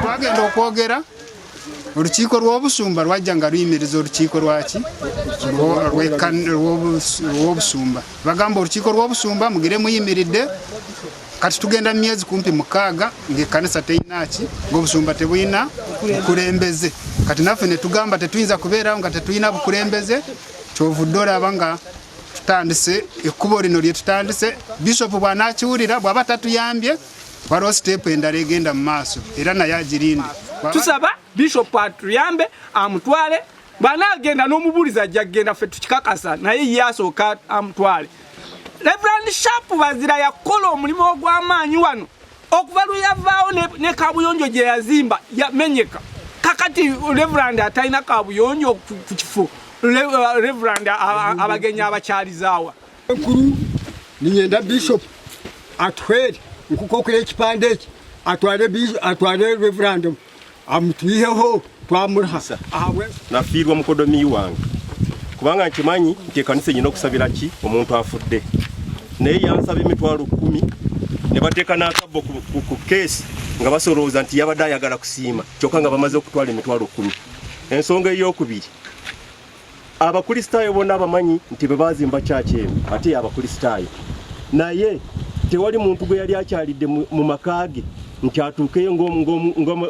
twagenda okwogera olukiiko lw'obusumba lwajja nga luyimiriza olukiiko lwaki lw'obusumba bagamba olukiiko lw'obusumba mugire muyimiridde kati tugenda mu myezi kumpi mukaaga ng'ekkanisa teyinaki ng'obusumba tebulina bukulembeze kati naffe ne tugamba tetuyinza kubeerawo nga tetulina bukulembeze kyovudde olaba nga tutandise ekkubo lino lye tutandise bishop bw'anaakiwulira bw'aba tatuyambye waliwo siteepu endala egenda mu maaso era naye agirinde tusaba bishop atuyambe amutwale bw'anaagenda n'omubuulizi ajja kugenda ffe tukikakasa naye ye asooka amutwale reverand sharp bazira yakola omulimu ogw'amaanyi wano okuva lwe yavaawo ne, ne kabuyonjo gye yazimba yamenyeka kakati reverand atalina kabuyonjo ku kifo uh, reverand abagenyi abakyalizaawa enkulu ninyenda bishop atwere nkukokola ekipande eki atwale reverandum amutwiheho twamurihasa nafiirwa mukodomi wange kubanga nkimanyi nti ekanisa enyina okusabira ki omuntu afudde naye yansaba emitwalo kumi ne bateeka n'akabbo ku keesi nga basolooza nti yabadde ayagala kusiima kyokka nga bamaze okutwala emitwalo kumi ensonga ey'okubiri abakristaayo bona abamanyi nti bwe baazimba kyaki eno ate y'abakristaayo naye tewali muntu gwe yali akyalidde mu maka ge nti atuukeyo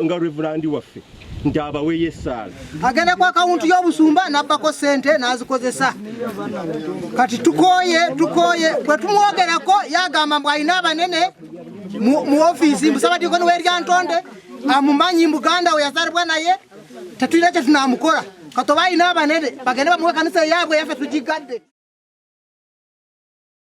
nga revulandi waffe nti abaweyo essaala agenda ku akawunti y'obusumba n'abbako ssente n'azikozesa kati tukooye tukooye bwe tumwogerako yagamba mbu alina abanene mu ofiisi mbusaba dikoni weryantonde amumanyi muganda we yazalibwa naye tetulina kye tunaamukola katoba alina abanene bagende bamuwe kanisa eyaabwe yaffe tugigadde